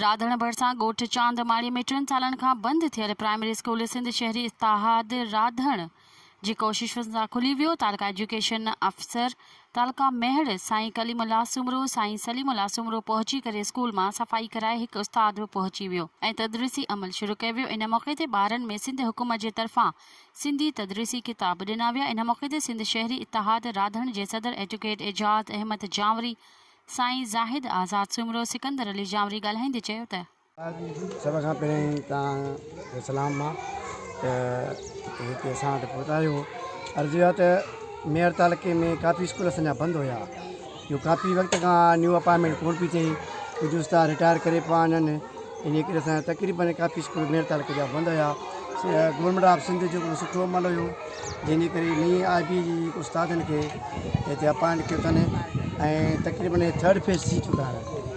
راڌڻ ڀرسان ڳوٺ چاند ماڙي ۾ ٽن سالن کان بند ٿيل پرائمري اسڪول سنڌ شهري اتحاد راڌڻ جي ڪوششن سان کلي ويو، تعلقه ايجوڪيشن آفيسر تعلقه ميهڙ سائين ڪليم الله سومرو، سائين سليم الله سومرو پهچي ڪري اسڪول مان صفائي ڪرائي هڪ استاد به پهچي ويو ۽ تدريسي عمل شروع ڪيو ويو ان موقعي تي ٻارن ۾ سنڌ حڪومت جي طرفان سنڌي تدريسي ڪتاب ڏنا ويا ان موقعي تي سنڌ شهري اتحاد راڌڻ جي صدر ايڊوڪيٽ اعجاز احمد جانوري، سائين زاهد آزاد سومرو، سڪندر علي جانوري ڳالهائيندي چيو ته. سڀ کان پهرين توهان کي سلام آ ته هتي اسان وٽ پهتا آهيو عرض اها ته ميهڙ تعلقي ۾ ڪافي اسڪول اسان جا بند هيا جو ڪافي وقت کان نيو اپائنٽمينٽ ڪون پي ٿئي ڪجهه استاد رٽائر ڪري پيا وڃن انهي ڪري اسان جا تقريبن ڪافي اسڪول ميهڙ تعلقي جا بند هيا گورمينٽ آف سنڌ جو هڪڙو سٺو عمل هيو جنهن جي ڪري نئي آء بي جي استادن کي هتي اپائنٽ ڪيو اٿن ۽ تقريبن ٿرڊ فيز ٿي چڪا آهن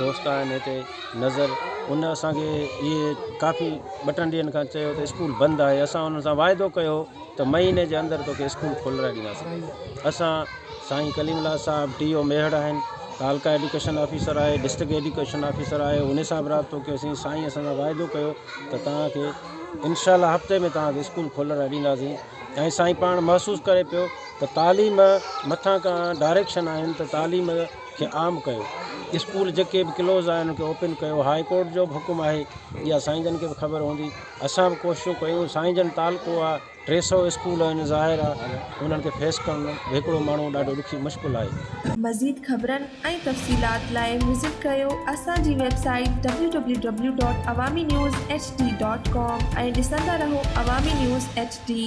دوست آهن هتي نظر ان اسان کي اهي ڪافي ٻه ٽن ڏينهن کان چيو ته اسڪول بند آهي اسان انهن سان واعدو ڪيو ته مهيني جي اندر توکي اسڪول کولرائي ڏينداسين اسان سائين ڪليم الله صاحب ڊي او ميهڙ آهن تعلقه ايڊوڪيشن آفيسر آهي ڊسٽرڪ ايڊوڪيشن آفيسر آهي ان سان به رابطو ڪيوسين سائين اسان سان واعدو ڪيو ته توهانکي انشاء الله هفتي ۾ توهانکي اسڪول کولرائي ڏينداسين ۽ سائين پاڻ محسوس ڪري پيو ته تعليم مٿان کان ڊائريڪشن آهن ته تعليم کي عام ڪيو اسڪول جيڪي به ڪلوز آهن ان کي اوپن ڪيو هاء ڪورٽ جو به حڪم آهي اها سائين جن کي به خبر هوندي اسان به ڪوششون ڪيون سائين جن تعلقو آهي ٽي سو اسڪول آهن ظاهر آهي انهن کي فيس ڪرڻ هڪڙو ماڻهو ڏاڍو ڏکي مشڪل آهي. مزيد خبرن ۽ تفصيلات لاء وزٽ ڪريو اسان جي website W W W dot Awami news H D dot com ۽ ڏسندا رهو عوامي نيوز ايڇ ڊي.